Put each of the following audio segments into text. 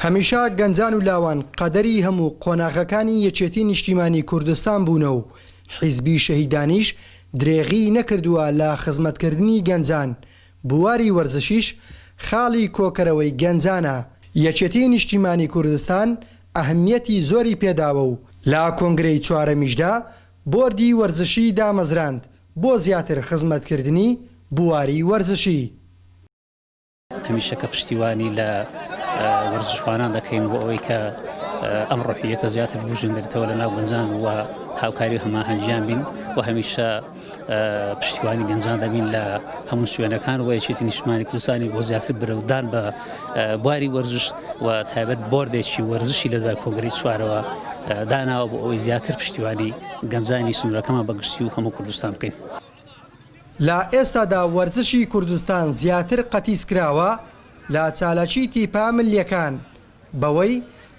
هەمیشە گەنجان و لاوان قەدەری هەموو قۆناغەکانی یەکێتی نیشتیمانی کوردستان بوونە و حیزبی شەهیدانیش درێغی نەکردووە لە خزمەتکردنی گەنجان، بواری وەرزشیش خاڵی کۆکەرەوەی گەنجانە، یەکێتی نیشتیمانی کوردستان ئەهمیەتی زۆری پێداوە و لە کۆنگرەی چوارەمیشدا بۆردی وەرزشی دامەزراند بۆ زیاتر خزمەتکردنی بواری وەرزشی. هەمیشە کە پشتیوانی لە وەرزشوانان دەکەین بۆ ئەوەی کە ئەم ڕحیەتە زیاتر بژێندرێتەوە لە ناو گەنجان و هاوکاری و هەماهەنگیان بین و هەمیشە پشتیوانی گەنجان دەبین لە هەموو شوێنەکان و یەکێتی نیشمانی کوردستانی بۆ زیاتر برەودان بە بواری وەرزش و تایبەت بردێکی وەرزشی لە دوای کۆنگری چوارەوە داناوە بۆ ئەوەی زیاتر پشتیوانی گەنجانی سنوورەکەمان بەگشتی و هەموو کوردستان بکەین. لە ئێستادا وەرزشی کوردستان زیاتر قەتیسکراوە لە چالاکی تیپە ملیەکان بەوەی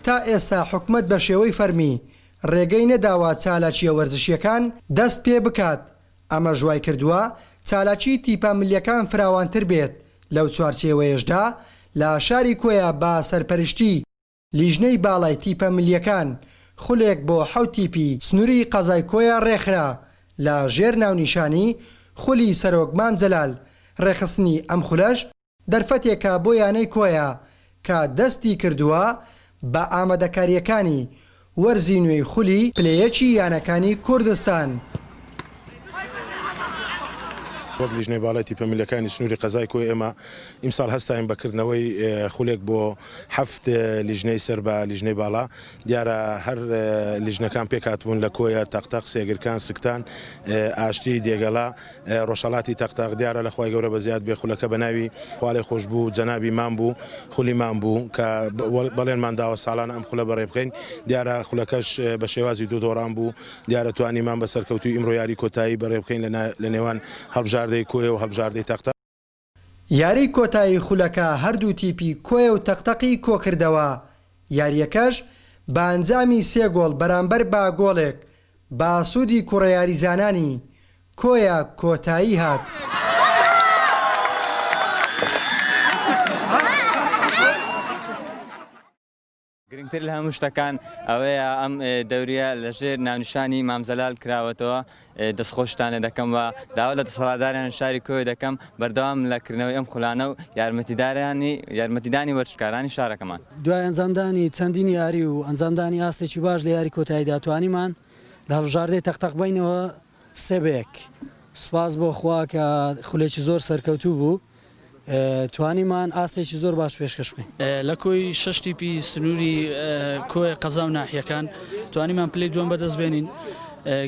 تا ئێستا حکومەت بە شێوەی فەرمی رێگەی نەداوە چالاکیە وەرزشیەکان دەست پێ بکات ئەمەش وایکردوە چالاکی تیپە ملیەکان فراوانتر بێت لەو چوارچێوەیەشدا لە شاری کۆیە بە سەرپەرشتی لیژنەی باڵای تیپە ملیەکان خولێک بۆ حەوت تیپی سنوری قەزای کۆیە ڕێکخرا لە ژێر ناونیشانی خولی سەرۆک مام جەلال، ڕێکخستنی ئەم خولەش دەرفەتێکە بۆ یانەی کۆیە کە دەستی کردووە بە ئامادەکاریەکانی وەرزی نوێی خولی پلەیەکی یانەکانی کوردستان. وەک لیژنەی باڵای تیپە ملیەکانی سنوری قەزای کۆیە ئێمە ئیمساڵ هەستاین بە کردنەوەی خولێک بۆ هەفت لیژنەی سەر بە لیژنەی باڵا دیارە هەر لیژنەکان پێکهاتبوون لە کۆیە تەقتەق سێگرکان سکتان ئاشتی دێگەڵا ڕۆژهەڵاتی تەقتەق دیارە لە خوای گەورە بە زیاد بێ خولەکە بە ناوی خوالێ خۆش بوو جەنابی مام بوو خولی مام بوو کە بەڵێنمان داوە ساڵانە ئەم خولە بەڕێ بکەین دیارە خولەکەش بە شێوازی دوو دۆڕان بوو دیارە توانیمان بە سەرکەوتووی ئیمڕۆ یاری کۆتایی بەڕێ بکەین لە لە نێوان هەڵبژاردەی کۆیە و هەڵبژاردەی تەق تەق. یاری کۆتایی خولەکە هەردوو تیپی کۆیە و تەق تەقی کۆکردەوە، یارییەکەش بە ئەنجامی سێ گۆڵ بەرامبەر بە گۆڵێک بە ئاسوودی کوڕە یاریزانانی کۆیە کۆتایی هات. گرنگتر لە هەموو شتەکان ئەوەیە ئەم دەوریە لەژێر ناونیشانی مام جەلال کراوەتەوە، دەستخۆشتان لێ دەکەم و داوا لە دەسەڵاتدارانی شاری کۆیە دەکەم بەردەوام لە کردنەوەی ئەم خولانە و یارمەتیدانی وەرزشکارانی شارەکەمان. دوای ئەنجامدانی چەندین یاری و ئەنجامدانی ئاستێکی باش لە یاری کۆتاییدا توانیمان لە هەڵبژاردەی تەق تەق بینەوە، سبک سوپاس بۆ خوا کە خولێکی زۆر سەرکەوتوو بوو توانیمان ئاستێکی زۆر باش پێشکەش بکەین. لە کۆی شەش تیپی سنووری کۆیە قەزا و ناحیەکان توانیمان پلەی دووەم بەدەست بێنین.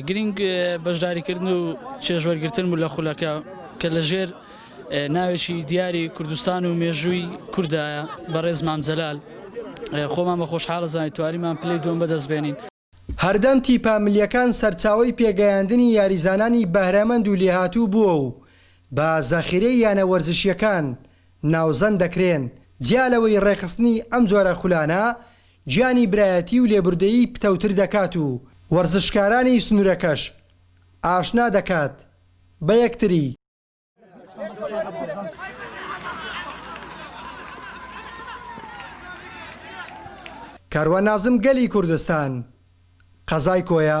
گرینگ بەشداریکردن و چێژوەرگرتن بوو لە خولەکە کە لە ژێر ناوێکی دیاری کوردستان و مێژووی کوردایە بەڕێز مام جەلال خۆمان بە خۆشحاڵ دەزانین توانیمان پلەی دووەم بەدەست بێنین. هەردەم تیپە ملیەکان سەرچاوەی پێگەیاندنی یاریزانانی بەهرەمەند و لێهاتوو بووە و بە زەخیرەی یانە وەرزشیەکان ناوزەند دەکرێن، جیا لەوەی ڕێکخستنی ئەم جۆرە خولانە گیانی برایەتی و لێبوردەیی پتەوتر دەکات و وەرزشکارانی سنوورەکەش ئاشنا دەکات بە یەکتری. کاروان نازم گەلی کوردستان قەزای کۆیە.